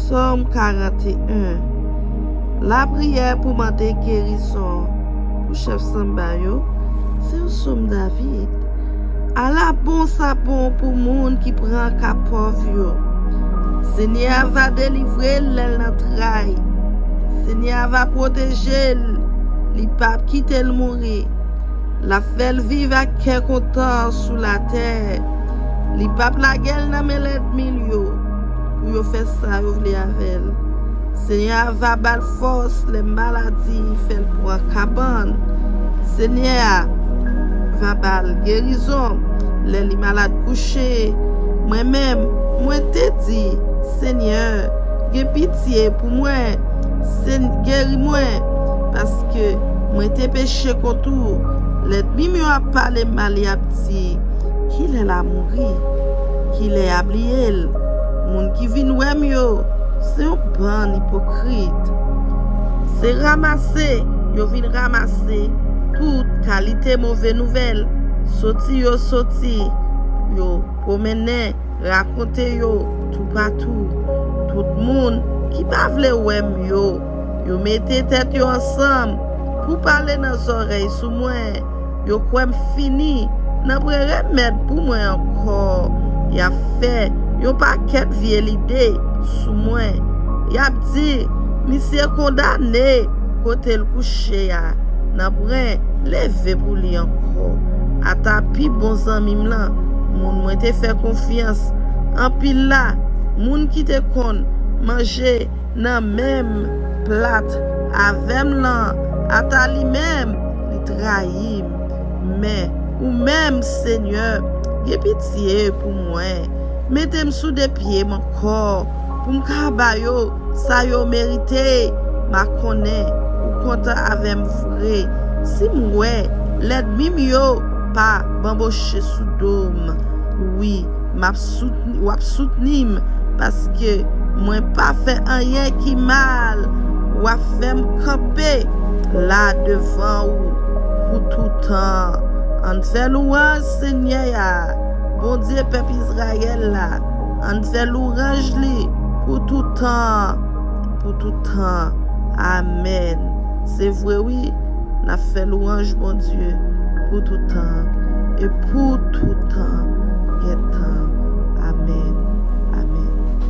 Sòm 41 Lapriyè pou mande gerizon pou chèf sanba yo se yon sòm David Ala bon sa bon pou moun ki pran ka pòv yo Senyè a va delivre l lè l nan tray Senyè a va pwoteje l Li pap kite l mouri L ap fè l viv ak kè kontan sou latè Li pap lage l nan men lèdmi l yo pou yo fè sa yo vle avè l. Senyè a va ba l fòs lè maladi fè l pran kabann. Senyè a va ba l gerizon lè li malad kouche. Mwen menm, mwen te di, Senyè, gen pitye pou mwen. Sen, geri mwen, paske mwen te peche kont ou. Lèdmi m yo ap pale m mal, y ap di. Kilè la mouri? Kilè ya bliyel? Moun ki vin wèm yo se yon bann ipokrit. Se ramase yo vin ramase tout kalite move nouvèl, soti yo soti yo pwomennen rakonte yo toupatou. Tout moun ki pa vle wèm yo. Yo mete tèt yo ansanm pou pale nan zòrèy sou mwen Yo kwè m fini nan pran remèd pou mwen ankò Y ap fè yon pakèt vye lide sou mwen Y ap di misye kondane kote l kouche a Nan pran leve pou li ankò Ata pi bon zanmi m lan moun mwen te fè konfyans anpil la Moun ki te konn manje nan menm plat avèm lan ata li menm li trayim men ou menm senyè gen pitye pou mwen metem sou 2 pyem ankò poum ka ba yo sa yo merite ma konnen ou kontan avèm vre sim wè lèdmim yo pa banboche sou dom wi. Map soutni wap soutnim paske mwen pa fè anyen ki mal wap fèm kanpe la devan ou pou toutan ann fè louranj senyè a bondye pèp izrayèl la ann fè louranj li pou toutan pou toutan amèn se vre wi N ap fè lwanj Bondye pou toutan an e pou toutan gen tan. Amèn. Amèn.